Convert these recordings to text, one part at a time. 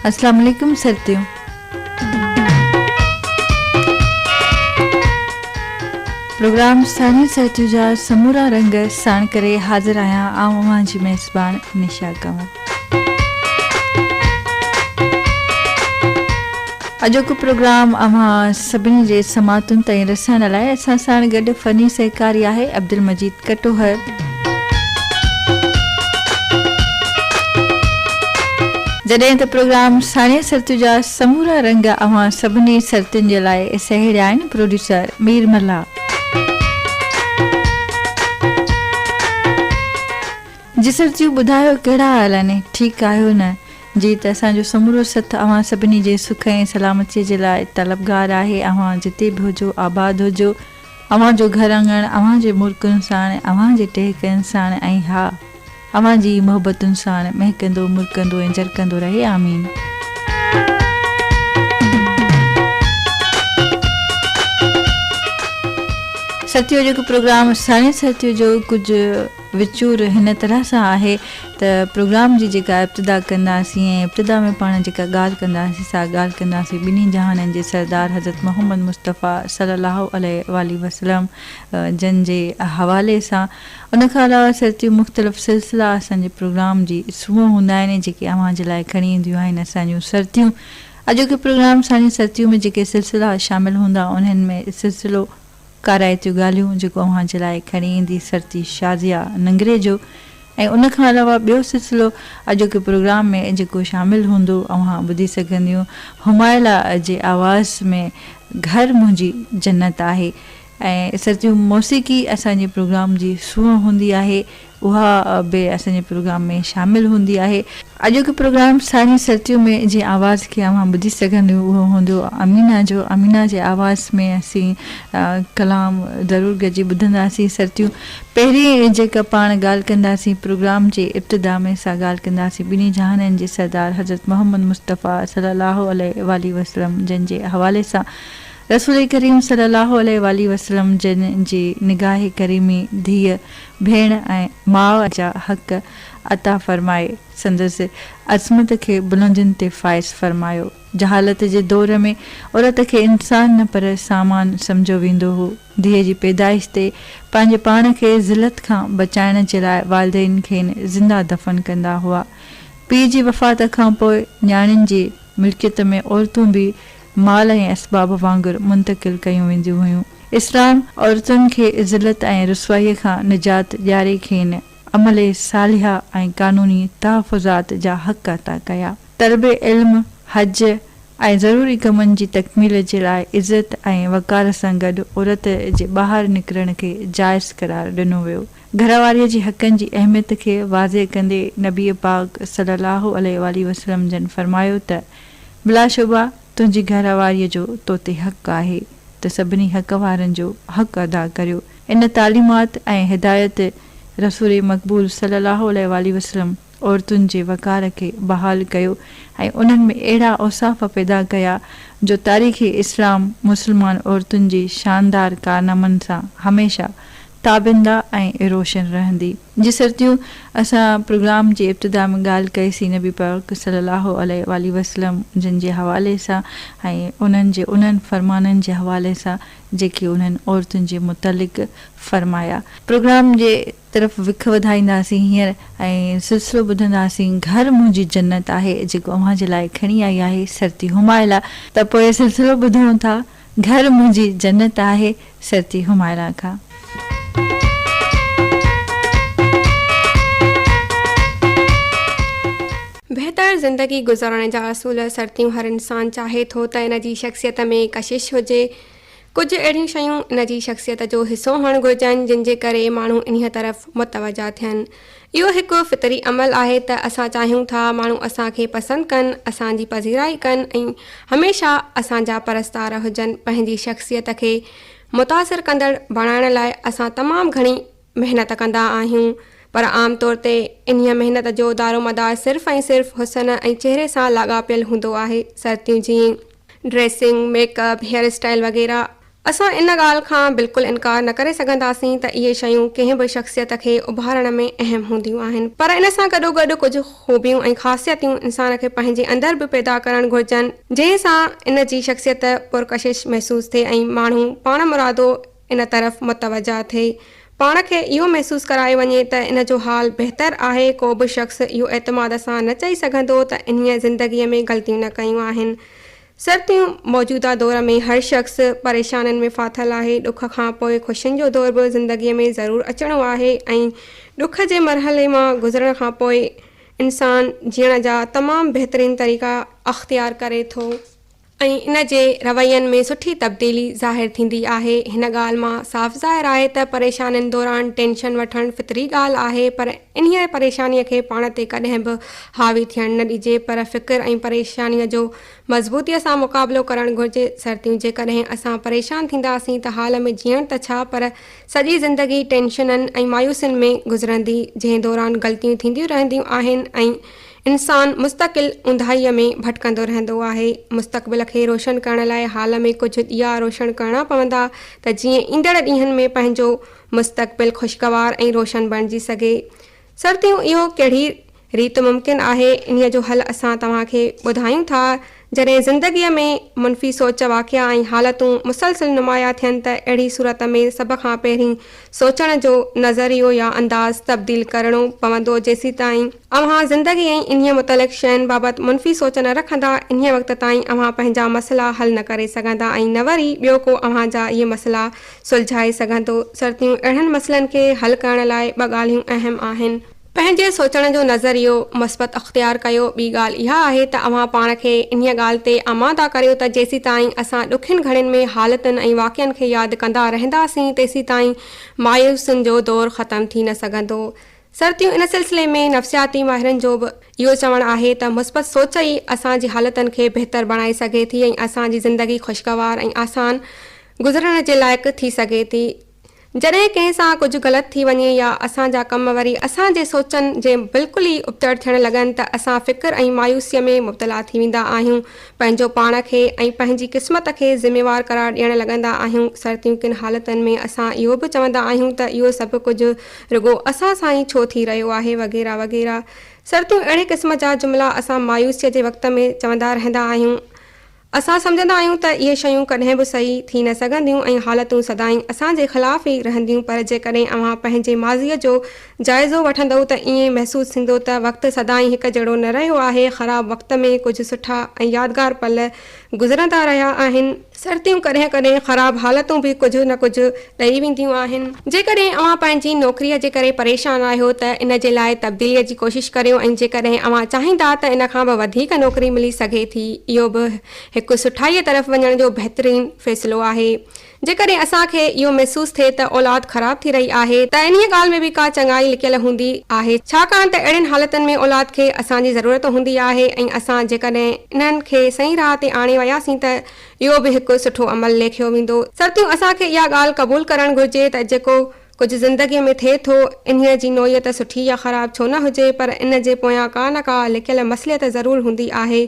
اسلام عليڪم سرتيون. پروگرام ثاني سرتيون جا سمورا رنگ ساڻ ڪري حاضر آهيان آئون اوهان جي ميزبان نشا ڪنور. اڄوڪو پروگرام اوهان سڀني جي سماعتن تائين رسائڻ لاء اسان سان گڏ فني سهڪاري آهي عبدالمجيد ڪٽوهر جڏهن ته پروگرام ساڻي سرتيو جا سمورا رنگ اوهان سڀني سرتين جي لاء سهيڙيا آهن پروڊيوسر مير ملا جي سر جيو ٻڌايو ڪهڙا حال آهن ٺيڪ آهيو نه جي ته اسان جو سمورو سٿ اوهان سڀني جي سک ۽ سلامتي جي لاء طلبگار آهي اوهان جتي به هجو آباد هجو اوهان جو گهر اڱڻ اوهان جي مرڪن ساڻ اوهان جي ٽهڪن ساڻ ۽ ها اوهان جي ئي محبتن ساڻ مهڪندو مرڪندو ۽ جرڪندو رهي آمين. سرتيو جيڪو پروگرام ساڻي سرتيو جو ڪجهه. وچور هن طرح سان آهي ته پروگرام جي جيڪا ابتدا ڪنداسين ۽ ابتدا ۾ پاڻ جيڪا ڳالهه ڪنداسين سا ڳالهه ڪنداسين ٻنهي جهانن جي سردار حضرت محمد مصطفي صلي الله عليه واٰله وسلم جن جي حوالي سان ان کان علاوه سرتيون مختلف سلسلا اسان جي پروگرام جي سمون هوندا آهن جيڪي اوهان جي لاء کڻي اينديون آهن اسان جون سرتيون اڄوڪي پروگرام ساڻي سرتيون ۾ جيڪي سلسلا شامل هوندا انهن ۾ سلسلو ڪارائتيون ڳالهيون جيڪو اوهان جي لاء کڻي ايندي سرتي شازيا ننگري جو ۽ ان کان علاوه ٻيو سلسلو اڄوڪي پروگرام ۾ جيڪو شامل هوندو اوهان ٻڌي سگهنديون همايلا جي آواز ۾ گهر منهنجي جنت آهي ۽ سرتيون موسيقي اسان جي پروگرام جي سونهن هوندي آهي اها به اسان جي پروگرام ۾ شامل هوندي آهي. اڄوڪي پروگرام سارين سرتيون ۾ جنهن آواز کي اوهان ٻڌي سگهنديون اهو هوندو امينه جو. امينه جي آواز ۾ اسين ڪلام ضرور گڏجي ٻڌنداسين سرتيون. پهرين جيڪا پاڻ ڳالهه ڪنداسين پروگرام جي ابتدا ۾ سا ڳالهه ڪنداسين ٻنهي جهانن جي سردار حضرت محمد مصطفيٰ صلّي الله عليه واٰله وسلّم جن جي حوالي سان رسول ڪريم صلّي الله عليه واٰله وسلّم جن جي نگاهه ڪريمي ڌيء ڀيڻ ۽ ماء جا حق عطا فرمائي، سندس عصمت کي بلندين تي فائز فرمايو. جهالت جي دور ۾ عورت کي انسان نه پر سامان سمجهيو ويندو هو. ڌيء جي پيدائش تي پنهنجي پاڻ کي ذلت کان بچائڻ جي لاء والدين کين زنده دفن ڪندا هئا. پيء جي وفات کانپوء نياڻين جي ملڪيت ۾ عورتون به مال ۽ اسباب وانگر منتقل ڪيون وينديون هيون. اسلام عورتن کي ذلت ۽ رسوائيء کان نجات ڏياري کين عمل صالحه ۽ قانوني تحفظات جا حق عطا ڪيا. طلب علم، حج ۽ ضروري ڪمن جي تڪميل جي لاء عزت ۽ وقار سان گڏ عورت جي ٻاهر نڪرڻ کي جائز قرار ڏنو ويو. گهر واريء جي حقن جي اهميت کي واضح ڪندي نبي پاڪ صلي الله عليه واٰله وسلم جن فرمايو ته. بلاشبه تنهنجي گهر واريء جو تو تي حق آهي ته سڀني حق وارن جو حق ادا ڪريو. ان تعليمات ۽ هدايت رسول مقبول صلي الله عليه واٰله وسلم عورتن جي وقار کي بحال ڪيو ۽ انهن ۾ اهڙا اوصاف پيدا ڪيا جو تاريخ اسلام مسلمان عورتن جي شاندار ڪارنامن سان هميشه تابنده ۽ روشن رهندي. جي سرتيون اسان پروگرام جي ابتدا ۾ ڳالهه ڪئي سي نبي پاڪ صلي الله عليه واٰله وسلم جن جي حوالي سان ۽ انهن جي انهن فرمانن جي حوالي سان جيڪي انهن عورتن جي متعلق فرمايا. پروگرام جي طرف وک وڌائينداسين هينئر ۽ سلسلو ٻڌنداسين گهر منهنجي جنت آهي جيڪو اوهان جي لاء کڻي آئي آهي سرتي همايلا. ته پوء سلسلو ٻڌون ٿا. گهر منهنجي جنت آهي سرتي همايرا کان. بهتر زندگي گذارڻ جا اصول سرتيون هر انسان چاهي ٿو ته ان جي شخصيت ۾ ڪشش هجي. ڪجهه اهڙيون شيون ان جي شخصيت جو حصو هئڻ گهرجن جن جي ڪري ماڻهو انهيء طرف متوجهه ٿين. اهو هڪ فطري عمل آهي ته اسان چاهيون ٿا ماڻهو اسان کي پسند ڪن، اسان جي پذيرائي ڪن ۽ هميشه اسان جا پرستار هجن. پنهنجي شخصيت کي متاثر ڪندڙ بڻائڻ لاء اسان تمام گهڻي محنت ڪندا آهيون پر عام طور تي انهيء محنت جو دارومدار صرف ۽ صرف حسن ۽ چهري سان لاڳاپيل هوندو آهي. سرتيون جيئن dressing, makeup, hair style وغيره اسان ان ڳالهه کان بلڪل انڪار نه ڪري سگهنداسين ته اهي شيون ڪنهن به شخصيت کي اڀارڻ ۾ اهم هونديون آهن پر ان سان گڏوگڏ ڪجهه خوبيون ۽ خاصيتيون انسان کي پنهنجي اندر به پيدا ڪرڻ گهرجن جنهن سان ان جي شخصيت پرڪشش محسوس ٿئي ۽ ماڻهو پاڻمرادو ان طرف متوجه ٿئي پاڻ کي اهو محسوس ڪرايو وڃي ته ان جو حال بهتر آهي ڪو به شخص اهو اعتماد سان نه چئي سگهندو ته انهيء زندگيء ۾ غلطيون نه ڪيون آهن سرتيون، موجوده دور ۾ هر شخص پريشانين ۾ ڦاٿل آهي، ڏک کان پوء خوشين جو دور به زندگيء ۾ ضرور اچڻو آهي ۽ ڏک جي مرحلي مان گذرڻ کان پوء انسان جيئڻ جا تمام بهترين طريقا اختيار ڪري ٿو ۽ ان جي روين ۾ سٺي تبديلي ظاهر ٿيندي آهي، هن ڳالهه مان صاف ظاهر آهي ته پريشانين دوران ٽينشن وٺڻ فطري ڳالهه آهي پر انهيء پريشانيء کي پاڻ تي ڪڏهن به حاوي ٿيڻ نه ڏجي، پر فڪر ۽ پريشانيء جو مضبوطيء سان مقابلو ڪرڻ گهرجي. سرتيون، جيڪڏهن اسان پريشان ٿينداسين ته حال ۾ جيئڻ ته ڇا، پر سڄي زندگي ٽينشنن ۽ مايوسين ۾ گذرندي، جنهن دوران غلطيون ٿينديون رهنديون آهن ۽ انسان مستقل اونداهيء ۾ ڀٽڪندو رهندو آهي. مستقبل کي روشن ڪرڻ لاء حال ۾ ڪجهه ڏيئا روشڻ ڪرڻا پوندا ته جيئن ايندڙ ڏينهن ۾ پنهنجو مستقبل خوشگوار ۽ روشن بڻجي سگهي سرتيون اهو ڪهڙي ريت ممڪن آهي انهي جو حل اسان توهان کي ٻڌايون ٿا جڏهن زندگي ۾ منفي سوچ واقعا ۽ حالتون مسلسل نمايا ٿين ته اهڙي صورت ۾ سڀ کان پهرين سوچڻ جو نظريو يا انداز تبديل ڪرڻو پوندو جيسيتائين اوهان زندگي ۽ انهيء متعلق شين بابت منفي سوچ نه رکندا، انهيء وقت تائين اوهان پنهنجا مسئلا حل نه ڪري سگهندا ۽ نه وري ٻيو ڪو اوهان جا اهي مسئلا سلجهائي سگهندو. سرتيون اهڙن مسئلن کي حل ڪرڻ لاء ٻه ڳالهيون اهم آهن. پنهنجي سوچڻ جو نظريو مثبت اختيار ڪيو، ٻي ڳالهه اها آهي ته اوهان پاڻ کي انهيء ڳالهه تي آماده ڪريو ته جيسيتائين اسان ڏکين گهڙين ۾ حالتن ۽ واقعن کي ياد ڪندا رهنداسين تيسيتائين مايوسين جو دور ختم ٿي نه سگهندو. سرتيون ان سلسلي ۾ نفسياتي ماهرن جو به اهو چوڻ آهي ته مثبت سوچ ئي اسان جي حالتن کي بهتر بڻائي سگهي ٿي ۽ اسان جي زندگي خوشگوار ۽ آسان گذرڻ جي لائق ٿي سگهي ٿي جڏهن ڪنهن سان ڪجهه غلط ٿي وڃي يا اسان جا ڪم وري اسان جي سوچن جي بلڪل ئي ابتڙ ٿيڻ لڳن ته اسان فڪر ۽ مايوسي ۾ مبتلا ٿي ويندا آهيون پنهنجو پاڻ کي ۽ پنهنجي قسمت کي ذميوار قرار ڏيڻ لڳندا آهيون سرتيون ڪن حالتن ۾ اسان اهو به چوندا آهيون ته اهو سڀ ڪجهه رڳو اسان سان ئي ڇو ٿي رهيو آهي وغيره وغيره سرتيون اهڙي قسم جا جملا اسان مايوسيء جي وقت ۾ چوندا رهندا آهيون. اسان سمجهندا آهيون ته اهي شيون ڪڏهن به صحيح ٿي نه سگهنديون ۽ حالتون سدائين اسان جي خلاف ئي رهنديون پر جيڪڏهن اوهان پنهنجي ماضيء جو جائزو وٺندؤ ته ائين محسوس ٿيندو ته وقت سدائين هڪ جهڙو نه رهيو آهي خراب وقت ۾ ڪجهه سٺا ۽ يادگار پل گذرندا رهيا آهن. سرتيون ڪڏهن ڪڏهن خراب حالتون به ڪجهه نه ڪجهه ڏئي وينديون آهن. جيڪڏهن اوهان پنهنجي نوڪريء جي ڪري پريشان آهيو ته ان جي لاء تبديليء جي ڪوشش ڪريو ۽ جيڪڏهن اوهان چاهيندا ته ان کان به وڌيڪ نوڪري ملي سگهي ٿي اهو به هڪ سٺائيء طرف وڃڻ جو بهترين فيصلو آهي. جيڪڏهن اسان کي اهو محسوس ٿئي ته اولاد خراب ٿي رهي آهي ته انهيء ڳالهه ۾ به ڪا چڱائي لڪيل هوندي آهي ڇاڪاڻ ته اهڙين حالتن ۾ اولاد کي اسان جي ضرورت هوندي آهي ۽ اسان جيڪڏهن انهن کي صحيح راهه تي آڻي وياسين ته اهو به هڪ سٺو عمل ليکيو ويندو. سرتيون اسان کي اها ڳالهه قبول ڪرڻ گهرجي ته جيڪو ڪجهه زندگيء ۾ ٿئي ٿو انهيء جي نوعيت سٺي يا خراب ڇو نه هجي پر ان جي پويان ڪا نه ڪا لڪيل مصلحت ضرور هوندي آهي.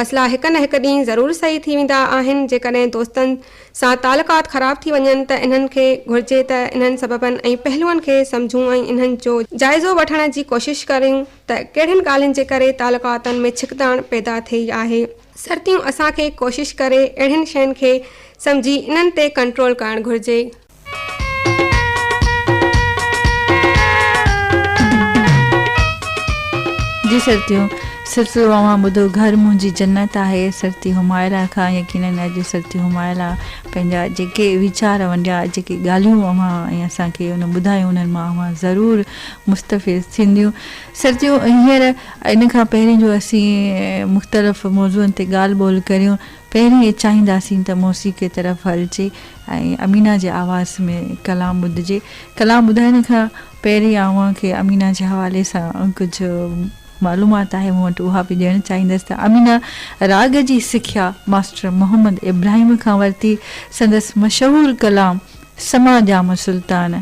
مصلحا هڪ نه هڪ ڏينهن ضرور صحيح ٿي ويندا آهن. جيڪڏهن دوستن سان تعلقات خراب ٿي وڃن ته انهن کي گهرجي ته انهن سببن ۽ پهلوئن کي سمجهون ۽ انهن جو جائزو وٺڻ جي ڪوشش ڪريون. ته ڪهڙين ڳالهين جي ڪري تعلقاتن ۾ ڇڪتاڻ پيدا ٿئي آهي. سرتيون اسان کي ڪوشش ڪري اهڙين شين کي سمجهي انهن تي ڪنٽرول ڪرڻ گهرجي. جي سرتيون سلسلو اوهان ٻڌو گهر منهنجي جنت آهي سرتي حمائلا کان يقينن اڄ سرتي حمائلا پنهنجا جيڪي ويچار ونڊيا جيڪي ڳالهيون اوهان ۽ اسان کي ان ٻڌايون انهن مان اوهان ضرور مستفيض ٿينديون. سرتيون هينئر ان کان پهرين جو اسين مختلف موضوعن تي ڳالهه ٻولهه ڪريون، پهرين اهي چاهينداسين ته موسيقي طرف هلجي ۽ امينه جي آواز ۾ ڪلام ٻڌجي. ڪلام ٻڌائڻ کان پهرين اوهان کي امينه جي حوالي سان ڪجهه معلومات آهي مون وٽ اها به ڏيڻ چاهيندس ته امينه راڳ جي سکيا ماسٽر محمد ابراهيم کان ورتي. سندس مشهور ڪلام سماء ڄام سلطان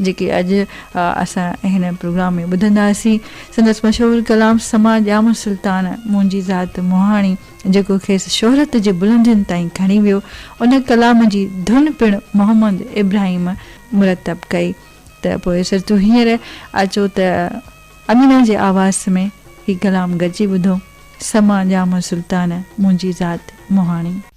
جيڪي اڄ اسان هن پروگرام ۾ ٻڌنداسين. سندس مشهور ڪلام سماء ڄام سلطان منهنجي ذات مهاڻي جيڪو کيس شهرت جي بلندين تائين کڻي ويو ان ڪلام جي ڌن پڻ محمد ابراهيم مرتب ڪئي ته پوء سر تون هينئر اچو ته امينه جي آواز ۾ هي ڪلام گڏجي ٻڌون سماء ڄام سلطان منهنجي ذات مهاڻي.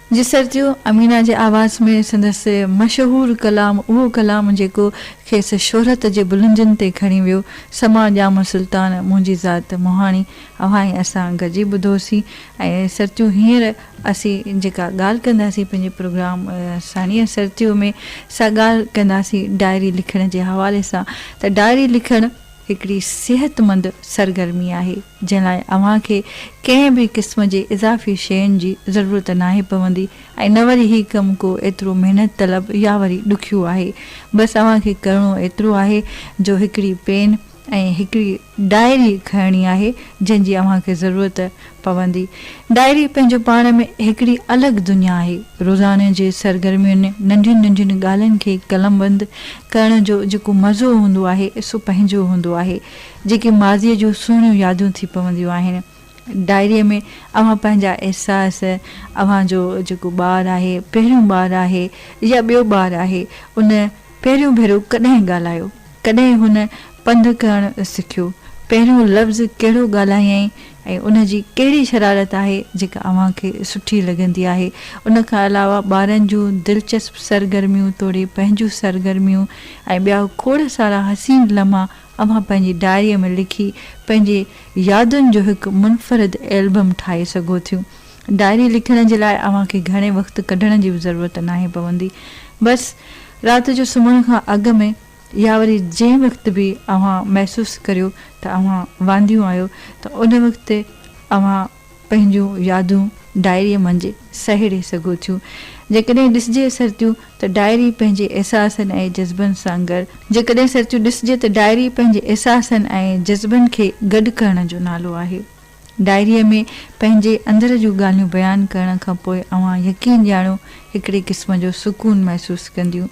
جسرتيو، امينه جي آواز ۾ سندس مشهور ڪلام اهو ڪلام جيڪو کيس شهرت جي بلندين تي کڻي ويو، سماع ڄام سلطان منهنجي ذات مهاڻي اوهان ۽ اسان گڏجي ٻڌوسين ۽ سرتيو هينئر اسين جيڪا ڳالهه ڪنداسين پنهنجي پروگرام ساڻيهه سرتيو ۾ سا ڳالهه ڪنداسين ڊائري لکڻ جي حوالي سان ته ڊائري لکڻ هڪڙي صحتمند سرگرمي آهي، جنهن لاء اوهان کي ڪنهن به قسم جي اضافي شين جي ضرورت ناهي پوندي ۽ نه وري هي ڪم ڪو ايترو محنت طلب يا وري ڏکيو آهي. بس اوهان کي ڪرڻو ايترو آهي جو هڪڙي پين ۽ هڪڙي ڊائري کڻڻي آهي، جنهن جي اوهان کي ضرورت پوندي. ڊائري پنهنجو پاڻ ۾ هڪڙي الڳ دنيا آهي. روزاني جي سرگرمين، ننڍين ننڍين ڳالهين کي قلمبند ڪرڻ جو جيڪو مزو هوندو آهي، سو پنهنجو هوندو آهي. جيڪي ماضيء جون سهڻيون يادون ٿي پونديون آهن. ڊائريء ۾ اوهان پنهنجا احساس، اوهان جو جيڪو ٻار آهي، پهريون ٻار آهي يا ٻيو ٻار آهي، ان. پهريون ڀيرو ڪڏهن ڳالهايو؟ ڪڏهن هن پنڌ ڪرڻ سکيو؟ پهريون لفظ ڪهڙو ڳالهايائين ۽ ان جي ڪهڙي شرارت آهي جيڪا اوهان کي سٺي لڳندي آهي؟ ان کان علاوه ٻارن جون دلچسپ سرگرميون توڙي پنهنجون سرگرميون ۽ ٻيا کوڙ سارا حسين لمحا اوهان پنهنجي ڊائريء ۾ لکي پنهنجي يادن جو هڪ منفرد ايلبم ٺاهي سگهو ٿيون. ڊائري لکڻ جي لاء اوهان کي گهڻي وقت ڪڍڻ جي به ضرورت ناهي پوندي. بس رات جو سمهڻ کان اڳ ۾ يا وري جنهن وقت به اوهان محسوس ڪريو ته اوهان وانديون آهيو ته ان وقت اوهان پنهنجون يادون ڊائريء منجهه سهيڙي سگهو ٿيون. جيڪڏهن ڏسجي سرتيون ته ڊائري پنهنجي احساسن ۽ جذبن سان ڳڙ. جيڪڏهن سرتيون ڏسجي ته ڊائري پنهنجي احساسن ۽ جذبن کي گڏ ڪرڻ جو نالو آهي. ڊائريء ۾ پنهنجي اندر جون ڳالهيون بيان ڪرڻ کان پوء اوهان يقين ڄاڻو هڪڙي قسم جو سڪون محسوس ڪنديون.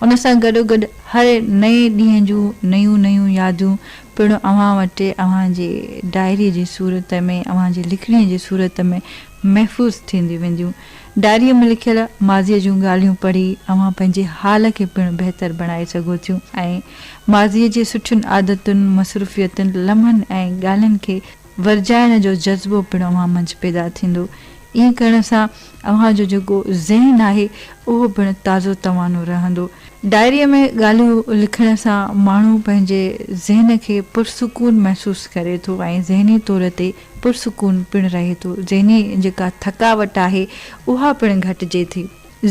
ان سان گڏوگڏ هر نئين ڏينهن جون نيون نيون يادون پڻ اوهان وٽ اوهان جي ڊائريء جي صورت ۾ اوهان جي لکڻيء جي صورت ۾ محفوظ ٿينديون وينديون. ڊائريء ۾ لکيل ماضيء جون ڳالهيون پڙهي اوهان پنهنجي حال کي پڻ بهتر بڻائي سگهو ٿيون ۽ ماضيء جي سٺين عادتن، مصروفيتن، لمحن ۽ ڳالهين کي ورجائڻ جو جذبو پڻ اوهان منجهه پيدا ٿيندو. ائين ڪرڻ سان اوهان جو جيڪو ذهن آهي اهو پڻ تازو توانو رهندو. ڊائريء ۾ ڳالهيون لکڻ سان ماڻهو پنهنجي ذهن کي پرسڪون محسوس ڪري ٿو ۽ ذهني طور تي پرسڪون پڻ رهي ٿو، ذهني جيڪا ٿڪاوٽ آهي اها پڻ گهٽجي ٿي.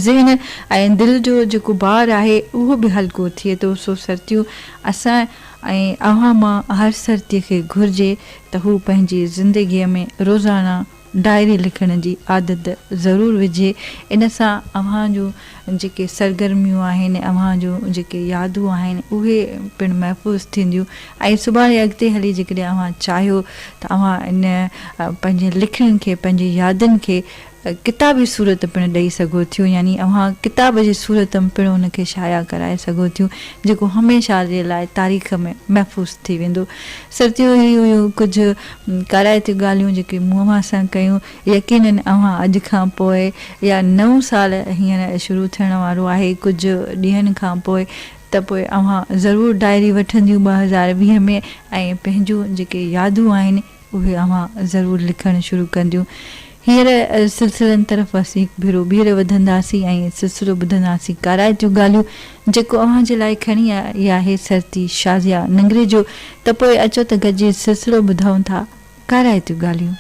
ذهن ۽ دل جو جيڪو بار آهي اهو به هلڪو ٿئي ٿو، سو سرتيون اسان ۽ اوهان مان هر سرتي کي گهرجي ته هو پنهنجي زندگي ۾ روزانه ڊائري لکڻ جي عادت ضرور وجهي، ان سان اوهان جون جيڪي سرگرميون آهن، اوهان جون جيڪي يادون آهن، اهي پڻ محفوظ ٿينديون ۽ سڀاڻي اڳتي هلي جيڪڏهن اوهان چاهيو ته اوهان ان پنهنجين لکڻين کي، پنهنجين يادن کي ڪتابي صورت پڻ ڏئي سگهو ٿيون يعني اوهان ڪتاب جي صورت م پڻ ان کي شايع ڪرائي سگهو ٿيون جيڪو هميشه جي لاء تاريخ ۾ محفوظ ٿي ويندو. سرتيون هي هيون ڪجهه ڪارائتيون ڳالهيون جيڪي مون اوهان سان ڪيون. يقينن اوهان اڄ کان پوء يا نئون سال هينئر شروع ٿيڻ وارو آهي ڪجهه ڏينهن کان پوء ته پوء اوهان ضرور ڊائري وٺنديون ٻه هزار ويهه ۾ ۽ پنهنجون جيڪي يادون آهن اهي اوهان ضرور لکڻ شروع ڪنديون هينئر سلسلن طرف اسين هڪ ڀيرو ٻيهر وڌنداسين ۽ سلسلو ٻڌنداسين ڪارائتيون ڳالهيون جيڪو اوهان جي لاء کڻي آئي آهي سرتي شازيا ننگري جو ته پوء اچو ته گڏجي سلسلو ٻڌون ٿا. ڪارائتيون ڳالهيون.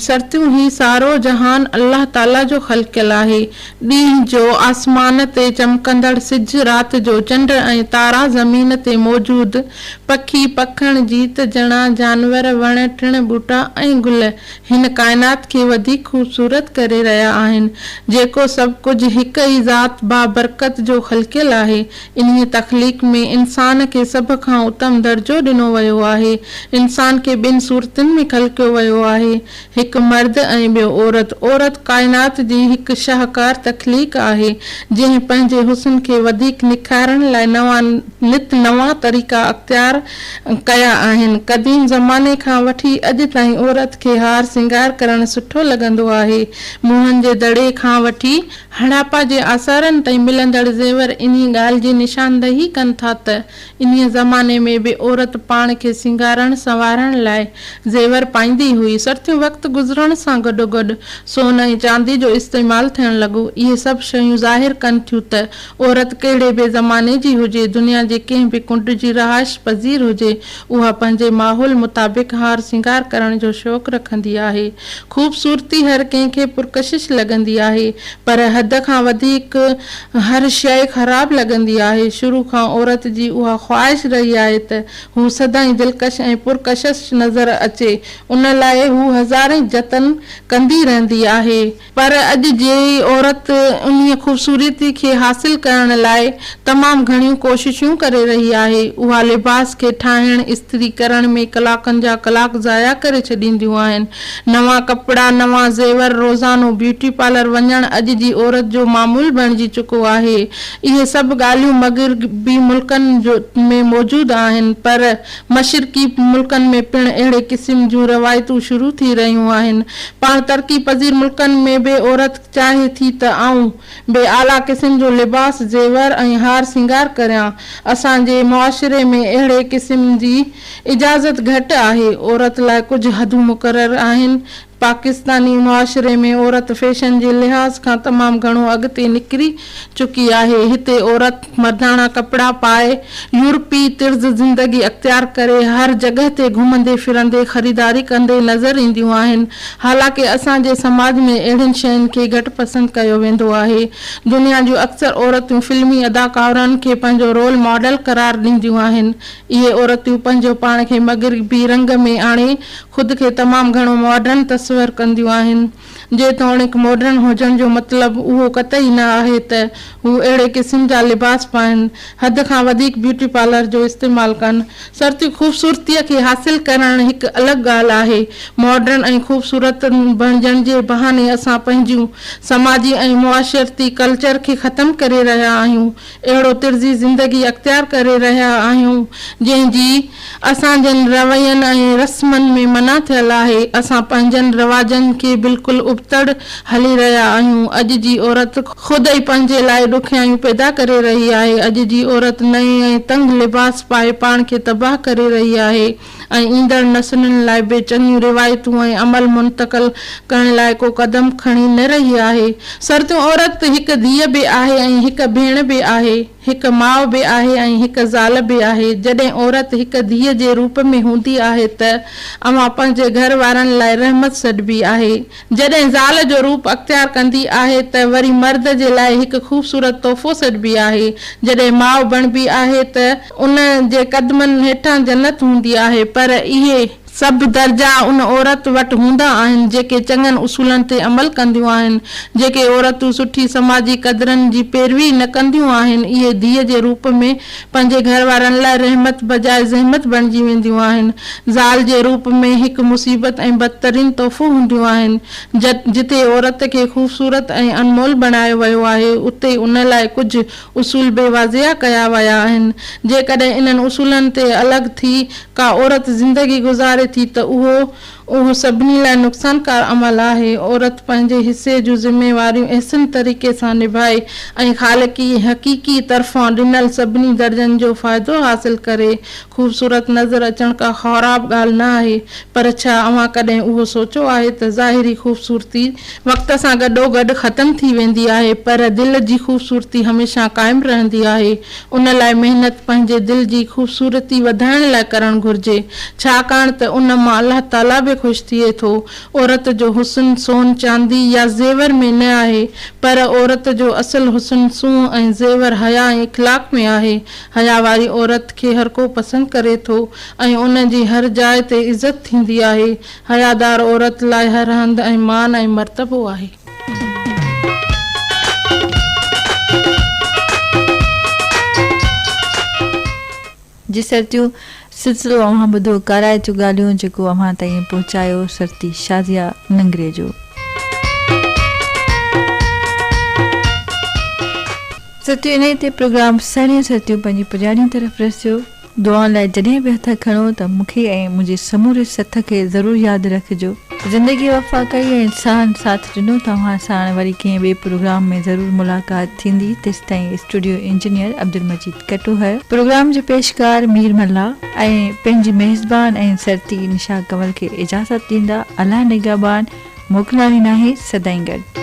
شرطيون هي سارو جهان الله تعاليٰ جو خلقيل آهي. ڏينهن جو آسمان تي چمڪندڙ سج، رات جو چنڊ ۽ تارا، زمين تي موجود پکي، پکڻ، جيت جڻا جانور، وڻ ٽڻ، ٻوٽا ۽ گل هن ڪائنات کي وڌيڪ خوبصورت ڪري رهيا آهن. جيڪو سڀ ڪجهه هڪ ئي ذات بابرڪت جو خلقيل آهي. انهيء تخليق ۾ انسان کي سڀ کان اتم درجو ڏنو ويو آهي. انسان کي ٻن صورتن ۾ خلقيو ويو آهي، هڪ مرد ۽ ٻيو عورت. عورت ڪائنات جي هڪ شاهڪار تخليق آهي، جنهن پنهنجي حسن کي وڌيڪ نکارڻ لاء نوان نت نوان طريقا اختيار ڪيا آهن. قديم زماني کان وٺي اڄ تائين عورت کي هار سينگار ڪرڻ سٺو لڳندو آهي. موهن جي دڙي کان وٺي. هڙاپا جي آثارن تائين ملندڙ زيور انهي ڳالهه جي نشاندهي ڪن ٿا ته انهيء زماني ۾ به عورت پاڻ کي سينگارڻ سنوارڻ لاء زيور پائيندي هئي. سرتيون وقت گذرڻ سان گڏوگڏ سون ۽ چاندي جو استعمال ٿيڻ لڳو. اهي سڀ شيون ظاهر ڪن ٿيون ته عورت ڪهڙي به زماني جي هجي، دنيا جي ڪنهن به ڪنڊ جي رهائش پذير هجي، اها پنهنجي ماحول مطابق هار سينگار ڪرڻ جو شوق رکندي آهي. خوبصورتي هر ڪنهن کي پرڪشش لڳندي آهي، پر حد کان وڌيڪ هر شيء خراب لڳندي آهي. شروع کان عورت جي اها خواهش رهي آهي ته هو سدائين دلڪش ۽ پرڪشش نظر اچي. ان لاء هو هزارين جتن ڪندي رهندي آهي. پر اڄ جي عورت انهي خوبصورتي کي حاصل ڪرڻ لاء تمام گهڻيون ڪوششون ڪري رهي آهي. اها لباس کي ٺاهڻ، استري ڪرڻ ۾ ڪلاڪن جا ڪلاڪ ضايع ڪري ڇڏينديون آهن. نوان ڪپڙا، نوان زيور، روزانو بيوٽي پارلر وڃڻ اڄ جي عورت جو معمول بڻجي چڪو آهي. اهي سڀ ڳالهيون مغربي ملڪن ۾ موجود آهن پر مشرقي ملڪن ۾ پڻ اهڙي قسم جون روايتون شروع ٿي رهيون آهن. پاڻ ترقي پذير ملڪن ۾ به عورت چاهي ٿي ته آئون به اعليٰ قسم جو لباس، زيور ۽ هار سينگار ڪريان. اسان جي معاشري ۾ اهڙي قسم جي اجازت گهٽ آهي. عورت لاء ڪجهه حدون مقرر آهن، پاڪستاني معاشري ۾ عورت فيشن جي لحاظ کان تمام گهڻو اڳتي نڪري چڪي آهي. هتي عورت مرداڻا ڪپڙا پائي، يورپي طرز زندگي اختيار ڪري، هر جڳهه تي گهمندي ڦرندي، خريداري ڪندي نظر اينديون آهن. حالانڪه اسان جي سماج ۾ اهڙين شين کي گهٽ پسند ڪيو ويندو آهي. دنيا جون اڪثر عورتون فلمي اداڪارائن کي پنهنجو رول ماڊل قرار ڏينديون آهن. اهي عورتون پنهنجو پاڻ کي مغربي رنگ ۾ آڻي خود کي تمام گهڻو ماڊرن تصور ڪنديون آهن. جيتوڻيڪ ماڊرن هجڻ جو مطلب اهو قطعي نه آهي ته هو اهڙي قسم جا لباس پائن، حد کان وڌيڪ بيوٽي پارلر جو استعمال ڪن. سرتي خوبصورتيء کي حاصل ڪرڻ هڪ الڳ ڳالهه آهي. ماڊرن ۽ خوبصورت بڻجڻ جي بهاني اسان پنهنجون سماجي ۽ معاشرتي ڪلچر کي ختم ڪري رهيا آهيون. اهڙو طرزي زندگي اختيار ڪري رهيا آهيون، جنهن جي اسان جن روين ۽ رسمن ۾ منع ٿيل آهي. اسان پنهنجن رواجن کي بلڪل ابتڙ هلي رهيا آهيون. اڄ جي عورت خود ئي پنهنجي لاء ڏکيائيون پيدا ڪري رهي آهي. اڄ جي عورت نئين ۽ تنگ لباس پائي پاڻ کي تباهه ڪري رهي آهي. ۽ ايندڙ نسلن لاء به چڱيون روايتون ۽ عمل منتقل ڪرڻ لاء ڪو قدم کڻي نه رهي آهي. سرتون عورت ته هڪ ڌيء به آهي ۽ هڪ ڀيڻ به آهي، هڪ ماء به آهي ۽ هڪ زال به آهي. جڏهن عورت هڪ ڌيء جي روپ ۾ هوندي آهي ته اوهان پنهنجي گهر وارن لاء رحمت سڏبي آهي. جڏهن زال جو روپ اختيار ڪندي آهي ته وري مرد جي لاء هڪ خوبصورت تحفو سڏبي آهي. جڏهن ماء بڻبي آهي ته ان جي قدمن هيٺان جنت هوندي آهي پر اهي. سڀ درجا ان عورت وٽ هوندا آهن جيڪي چڱن اصولن تي عمل ڪنديون آهن. جيڪي عورتون سٺي سماجي قدرن جي پيروي نه ڪنديون آهن اهي ڌيء جي روپ ۾ پنهنجي گهر وارن لاء رحمت بجاء زحمت بڻجي وينديون آهن. زال جي روپ ۾ هڪ مصيبت ۽ بدترين تحفو هونديون آهن. جتي عورت کي خوبصورت ۽ انمول بڻايو ويو آهي، اتي ان لاء ڪجهه اصول به واضع ڪيا ويا آهن. جيڪڏهن انهن اصولن تي الڳ ٿي ڪا عورت زندگي گذاري ٿي ته اهو اهو سڀني لاء نقصانڪار عمل آهي، عورت پنهنجي حصي جون ذميواريون احسن طريقي سان نڀائي ۽ خالقي حقيقي طرفان ڏنل سڀني درجن جو فائدو حاصل ڪري، خوبصورت نظر اچڻ ڪا خوراب ڳالهه نه آهي، پر ڇا اوهان ڪڏهن اهو سوچيو آهي ته ظاهري خوبصورتي، وقت سان گڏوگڏ ختم ٿي ويندي آهي، پر دل جي خوبصورتي هميشه قائم رهندي آهي، ان لاء محنت پنهنجي دل جي خوبصورتي وڌائڻ لاء ڪرڻ گهرجي، ڇاڪاڻ ته ان مان الله تعاليٰ به خوش ٿئي ٿو. عورت جو حسن سون، چاندي يا زيور ۾ نه آهي، پر عورت جو اصل حسن سونهن ۽ زيور، حيا ۽ اخلاق ۾ آهي. حيا واري عورت کي هرڪو پسند ڪري ٿو ۽ ان جي هر جاء تي عزت ٿيندي آهي. حيادار عورت لاء هر هنڌ مان مان ۽ مرتبو آهي. جي سرتيون سلسلو اوهان ٻڌو ڪارائتيون ڳالهيون جيڪو اوهان تائين پهچايو سرتي شازيا ننگري جو. سرتيون انهي تي پروگرام سهڻيون سرتيون پنهنجي پڄاڻيون طرف رسيو. دعائن لاء جڏهن به هٿ کڻو ته مون کي ۽ منهنجي سموري سٿ کي ضرور ياد رکجو. زندگي وفا ڪئي ۽ ساهن ساٿ ڏنو توهان ساڻ وري ڪنهن ٻئي پروگرام ۾ ضرور ملاقات ٿيندي تيستائين studio engineer Abdul Majeed Katohar, programme جو پيشڪار مير ملاح ۽ پنهنجي ميزبان ۽ سرتي نشا ڪنول کي اجازت ڏيندا الله نگهبان موڪلائڻي ناهي سدائين گڏ.